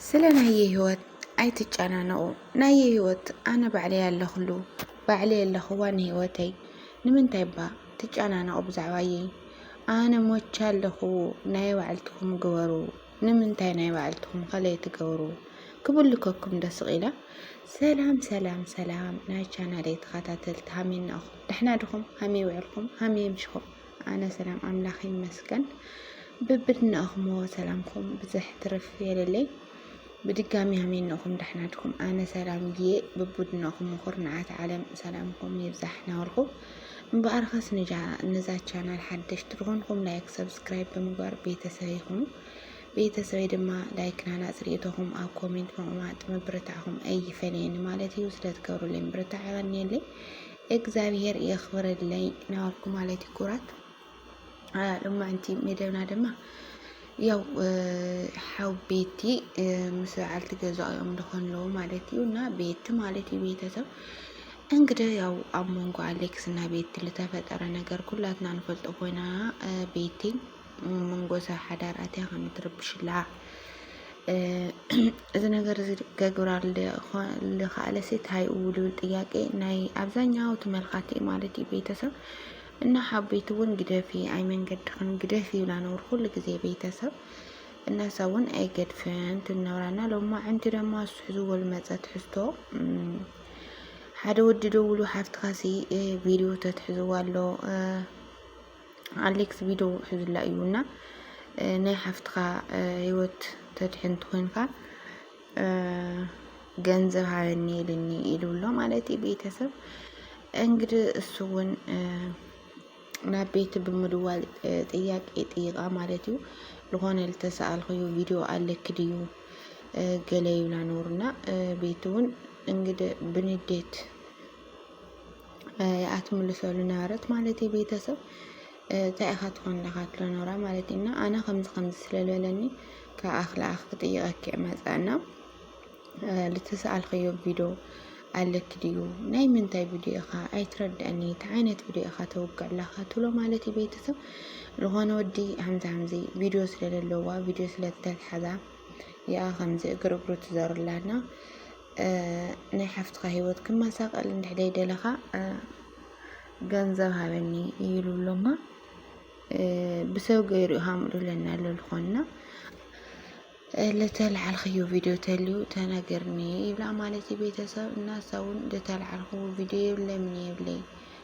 ስለ ናየ ህይወት ኣይትጨናነቑ ናየ ህይወት ኣነ ባዕለይ ኣለኽሉ ባዕለይ ኣለኽዋ ንህይወተይ ንምንታይ እባ ትጨናነቑ ብዛዕባየይ ኣነ ሞቻ ኣለኹ ናይ ባዕልትኹም ግበሩ ንምንታይ ናይ ባዕልትኹም ከለይ ትገብሩ ክብልከኩም ደስቕ ኢላ ሰላም ሰላም ሰላም ናይ ቻናለይ ተኸታተልቲ ሃሜና እኹም ደሕና ድኹም ሃመይ ውዕልኩም ሃመይ ምሽኹም ኣነ ሰላም ኣምላኽ ይመስገን ብብድናኹሞ ሰላምኩም ብዝሕ ትርፍ የለለይ ብድጋሚ ኣሜን ንኹም ዳሕናድኩም ኣነ ሰላም እየ ብቡድናኹም ምኹር ንዓት ዓለም ሰላምኩም ይብዛሕ ናበልኩ እምበኣርከስ ንዛ ቻናል ሓደሽቲ ዝኾንኩም ላይክ ሰብስክራይብ ብምግባር ቤተሰብ ይኹኑ ቤተሰበይ ድማ ላይክ ናናፅ ርእቶኹም ኣብ ኮሜንት ምቕማጥ ምብርታዕኹም ኣይፈለየኒ ማለት እዩ ስለትገብሩለይ ምብርታዕ ይቐንየለይ እግዛብሄር የኽብረለይ ናበልኩ ማለት እዩ ክቡራት ሎማዕንቲ መደብና ድማ ያው ሓው ቤቲ ምስ በዓልቲ ገዛኦም ደኾን ኣለዎ ማለት እዩ እና ቤቲ ማለት እዩ ቤተሰብ እንግዲህ ያው ኣብ መንጎ ኣሌክስ እና ቤቲ ዝተፈጠረ ነገር ኩላትና ንፈልጦ ኮይና ቤቲ መንጎታ ሓዳር ኣትያ ከም ትርብሽላ እዚ ነገር እዚ ገግብራ ልኻኣለ ሴት ሃይ ውልብል ጥያቄ ናይ ኣብዛኛው ተመልካቲ ማለት እዩ ቤተሰብ እና ሓቤት እውን ግደፊ ኣይ መንገድኽን ግደፊ ይብላ ነብር ኩሉ ግዜ ቤተሰብ እናሳ እውን ኣይገድፍን ትነብራና ሎማ ዕንቲ ደማ እሱ ሕዝዎ ልመፀ ትሕዝቶ ሓደ ወዲ ደውሉ ሓፍትኻሲ ቪድዮ ተትሕዝዋ ኣሎ ኣሌክስ ቪድዮ ሕዙላ እዩ እና ናይ ሓፍትኻ ህይወት ተድሕን ትኮንካ ገንዘብ ሃበኒ ኢልኒ ኢሉሎ ማለት እዩ ቤተሰብ እንግዲህ እሱ እውን ናብ ቤት ብምድዋል ጥያቄ ጥይቃ ማለት እዩ ዝኾነ ልተሰኣልክዩ ቪድዮ ኣለኪ ድዩ ገለ ይብላ ነሩና ቤት እውን እንግዲህ ብንዴት እያ ትምልሰሉ ነበረት ማለት እዩ ቤተሰብ እንታይ ኢኻ ትኾን ለኻ ትሎ ነራ ማለት እዩ እና ኣነ ከምዚ ከምዚ ስለልበለኒ ከኣኽ ለኣኽ ክጥይቐኪ መፀእና ልተሰኣልኸዮ ቪዶ ኣለኪ ድዩ ናይ ምንታይ ቪድዮ ኢኻ ኣይትረድአኒ እንታይ ዓይነት ቪድዮ ኢኻ ተውግዕ ለኻ ትሎ ማለት እዩ ቤተሰብ ዝኾነ ወዲ ሃምዚ ሃምዚ ቪድዮ ስለለለዋ ቪድዮ ስለዝተልሓዛ ይኣ ከምዚ እግር እግሩ ትዘርላና ናይ ሓፍትኻ ሂወት ክመሳቀል እንድሕር ደይደለኻ ገንዘብ ሃበኒ ይብሉ ኣሎማ ብሰብ ገይሩ ሃምጡለና ለልኾንና ለተልዓልክዮ ቪድዮ ተልዩ ተነግርኒ ይብላ ማለት እዩ ቤተሰብ እና እሳ እውን ለተልዓልክዎ ቪድዮ የብለምን የብለይ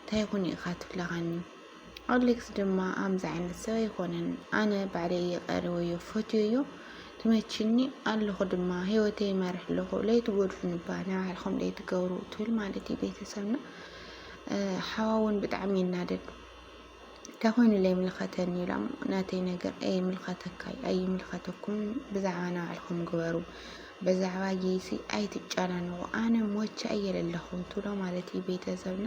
እንታይ ይኹን ኢኻ ትብለኻኒ ኣሌክስ ድማ ኣምዚ ዓይነት ሰብ ኣይኮነን ኣነ ባዕለይ እየ ቀሪበዮ ፈትዮዮ ትመችኒ ኣለኹ ድማ ሂወተይ ይመርሕ ኣለኹ ለይትጎድፉኒ እባ ናይ ባዕልኹም ለይትገብሩ ትብል ማለት እዩ ቤተሰብና ሓዋ እውን ብጣዕሚ ይናደድ እንታይ ኮይኑ ለይምልኸተኒ ኢላ እሞ ናተይ ነገር ኣይምልኸተካ እዩ ኣይምልኸተኩም ብዛዕባ ናይ ባዕልኹም ግበሩ ብዛዕባ ጌሲ ኣይትጨናነቑ ኣነ ሞቼ እየ ለለኹ ትብሎ ማለት እዩ ቤተሰብና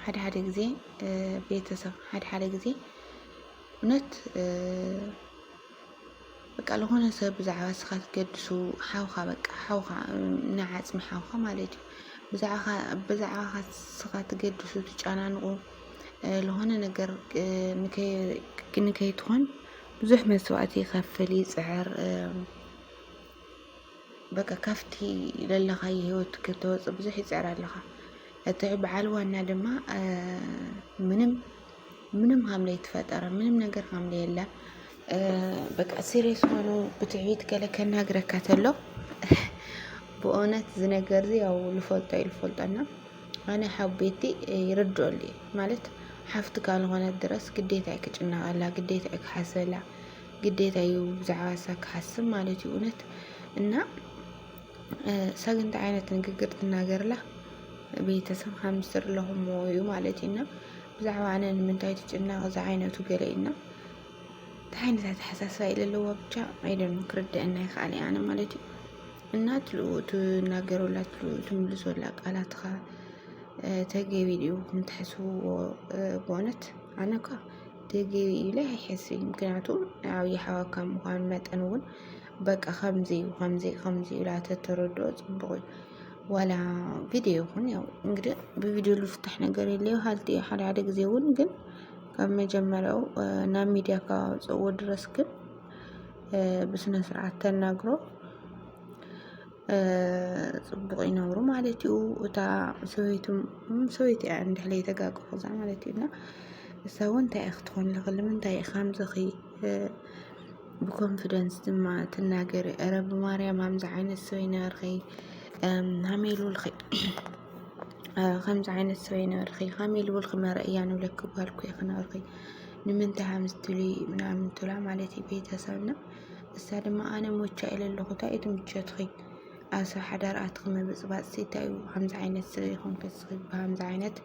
ሓደ ሓደ ግዜ ቤተሰብ ሓደ ሓደ ግዜ እውነት በቃ ዝኾነ ሰብ ብዛዕባ ንስኻ ትገድሱ ሓውኻ በቃ ሓውኻ ንዓፅሚ ሓውኻ ማለት እዩ ብዛዕባኻ ብዛዕባኻ ንስኻ ትገድሱ ትጨናንቑ ዝኾነ ነገር ንከይትኾን ብዙሕ መስዋእቲ ይኸፍል ይፅዕር በቃ ካብቲ ዘለኻዮ ህይወት ክትወፅእ ብዙሕ ይፅዕር ኣለኻ እቲ በዓል ዋና ድማ ምንም ምንም ሀምለ የተፈጠረ ምንም ነገር ሀምለ የለም። በቃ ሲሪየስ ሆኖ ብትዕቢት ገለ ከናግረካ ተሎ ብእውነት ዝነገር ዚ ያው ልፈልጦ እዩ ልፈልጦና ኣነ ሓቤቲ ይርድኦሉ ማለት ሓፍቲ ካልኾነት ድረስ ግዴታ እዩ ክጭነቀላ ግዴታ እዩ ክሓስበላ ግዴታ እዩ ብዛዕባ ንሳ ክሓስብ ማለት እዩ እውነት እና እሳ ግን እንታይ ዓይነት ንግግር ትናገርላ ቤተሰብ ሃምስትር ኣለኹሞ እዩ ማለት እዩ እና ብዛዕባ ኣነ ንምንታይ ትጭናቕ እዚ ዓይነቱ ገለ እዩ እና እንታይ ዓይነት ኣተሓሳስባ እዩ ለለዋ ብቻ ኣይደኑ ክርድአና ይክኣል እየ ኣነ ማለት እዩ እና ትልኡ ትናገረላ ትልኡ ትምልሶላ ቃላትኻ ተገቢ ድዩ ክንትሕስብዎ ብእውነት ኣነ እኳ ድግ ኢለ ኣይሐስብ እዩ ምክንያቱ ኣብ ይሓዋካ ምዃኑ መጠን እውን በቃ ከምዚ እዩ ከምዚ ከምዚ እዩ ኢላ ተተረድኦ ፅቡቅ እዩ ዋላ ቪድዮ ይኹን ያው እንግዲህ ብቪድዮ ልፍታሕ ነገር የለ ሃልቲ እዩ ሓደ ሓደ ጊዜ እውን ግን ካብ መጀመሪያው ናብ ሚዲያ ካወፅእዎ ድረስ ግን ብስነ ስርዓት ተናግሮ ፅቡቕ ይነብሩ ማለት እዩ እታ ሰበይቱ ሰበይቲ እያ እንድሕለ የተጋግሑዛ ማለት እዩ እና እሳ እውን እንታይ እያ ክትኾን ለኽ ልምንታይ እየ ከምዝኺ ብኮንፊደንስ ድማ ትናገሪ እረ ብማርያም ሃምዚ ዓይነት ሰበይ ነበርኺ ሃሜሉ ልኺ ከምዚ ዓይነት ሰበይ ነበርኺ ሃሜሉ ልኺ መረእያ ንብለኪ ጓልኩ እየ ክነበርኺ ንምንታይ ሃምዚ ትብሊ ምናምን ትብላ ማለት እዩ ቤተሰብና እሳ ድማ ኣነ ሞቻ ኢለ ኣለኹ ታይ እዩ እቲ ምቾትኺ ኣሰብ ሓዳር ኣትኺ ምብፅባፅሲ እንታይ እዩ ከምዚ ዓይነት ስለ ይኾንኪ እስኺ ብሃምዚ ዓይነት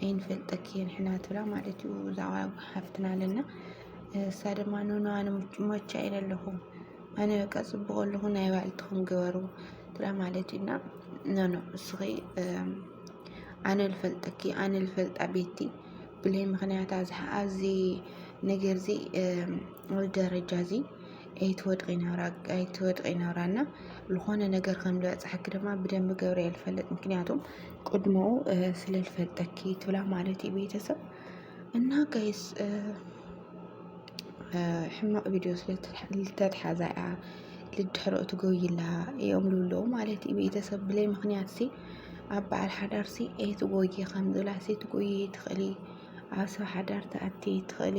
ኣይንፈልጠኪን ሕና ትብላ ማለት እዩ እዛ ሓፍትና ኣለና እሳ ድማ ኖኖ ኣነ ሞቻ ኢለ ኣለኹ ኣነ በቃ ፅቡቅ ኣለኹ ናይ ባዕልትኹም ግበሩ ትላ ማለት እዩ እና ኖኖ እስኺ ኣነ ልፈልጠኪ ኣነ ልፈልጣ ቤቲ ብለይ ምክንያት ኣዚ ነገር እዚ ኣብ ደረጃ እዚ ኣይትወድቂ ናብራ ኣይትወድቂ ናብራ እና ዝኾነ ነገር ከም ዝበፅሐኪ ድማ ብደንብ ገብረ ይፈልጥ ምክንያቱም ቅድሞ ስለ ዝፈልጠኪ ትብላ ማለት እዩ ቤተሰብ እና ጋይስ ሕማቅ ቪድዮ ስለተትሓዛ እያ ልድሕሮ ትጎይላ እዮም ልብለዉ ማለት እዩ ቤተሰብ ብለይ ምክንያት ሲ ኣብ በዓል ሓዳር ሲ ኣይትጎይ ከም ዝብላ ሲ ትጎይ ትኽእሊ ኣብ ሰብ ሓዳር ትኣቲ ትኽእሊ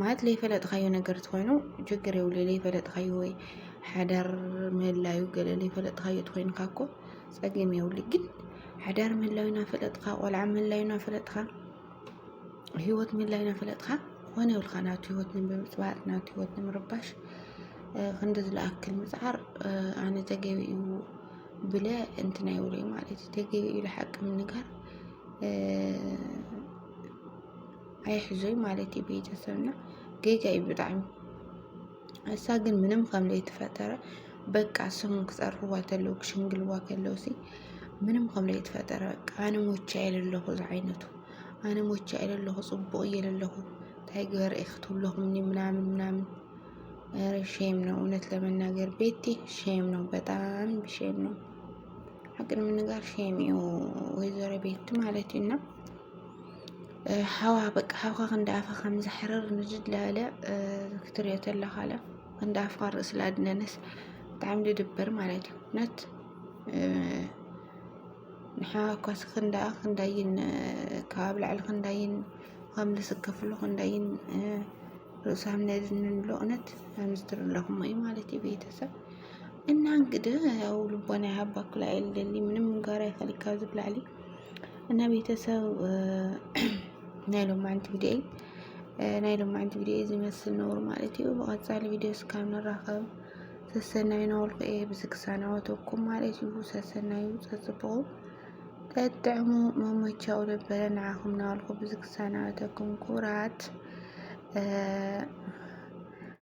ማለት ለይፈለጥካዮ ነገር ትኾይኑ ችግር የብሉ ለይፈለጥካዮ ወይ ሓዳር ምህላዩ ገለ ለይፈለጥካዮ ትኾይንካ እኮ ፀገም የብሉ ግን ሓዳር ምህላዩ ናፈለጥካ ቆልዓ ምህላዩ ናፈለጥካ ህይወት ምህላዩ ናፈለጥካ ኮነ ይብልካ ናቱ ህይወት ንምብፅባፅ ናቱ ህይወት ንምርባሽ ክንዲ ዝለኣክል ምፅዓር ኣነ ተገቢ እዩ ብለ እንትን ኣይብለይ ማለት እዩ ተገቢ እዩ ለሓቂ ምንጋር ኣይሕዞይ ማለት እዩ ቤተሰብና ጌጋ እዩ ብጣዕሚ እሳ ግን ምንም ከም ዘይተፈጠረ በቃ ስሙ ክፀርፍዋ ከለዉ ክሽምግልዋ ከለዉ ሲ ምንም ከም ዘይተፈጠረ በቃ ኣነ ሞቼ እየ ዘለኹ ዝዓይነቱ ኣነ ሞቼ እየ ዘለኹ ፅቡቕ እየ ዘለኹ እንታይ ግበር እየ ክትብለኹምኒ ምናምን ምናምን ኧረ ሼም ነው እውነት ለመናገር ቤቲ ሼም ነው በጣም ሼም ነው ሀቅ ለመናገር ሼም እዩ ወይዘሮ ቤቲ ማለት እዩ እና ሓዋ በቃ ሓውካ ክንዲ ኣፋ ከም ዘሕርር ንድድ ላለ ክትሪኦ ተለካ ለ ክንዲ ኣፍካ ርእሲ ላድነንስ ብጣዕሚ ድድብር ማለት እዩ ነት ንሓዋ እኳ ክንዳ ክንዳይን ካብ ላዕሊ ክንዳይን ከም ዝስከፍሉ ክንዳይን ርእሱ ከም ነድንንሎ እውነት ከምዝትር ኣለኹም እዩ ማለት እዩ ቤተሰብ እና እንግዲህ ያው ልቦና ያሃባኩላ የለኒ ምንም ጋራ ይፈልግ ካብዚ ብላዕሊ እና ቤተሰብ ናይ ሎማዓንቲ ቪዲዮይ ናይ ሎማዓንቲ ቪዲዮ ዝመስል ነውሩ ማለት እዩ። ብቐፃሊ ቪዲዮ እስካብ ንራኸብ ሰሰናዩ ነወልኩ እየ ብዝክሳናወተኩም ማለት እዩ። ሰሰናዩ ፀፅቡቑ ጠጥዕሙ መመቻኡ ነበረ ንዓኹም ናወልኩ ብዝክሳናወተኩም ኩራት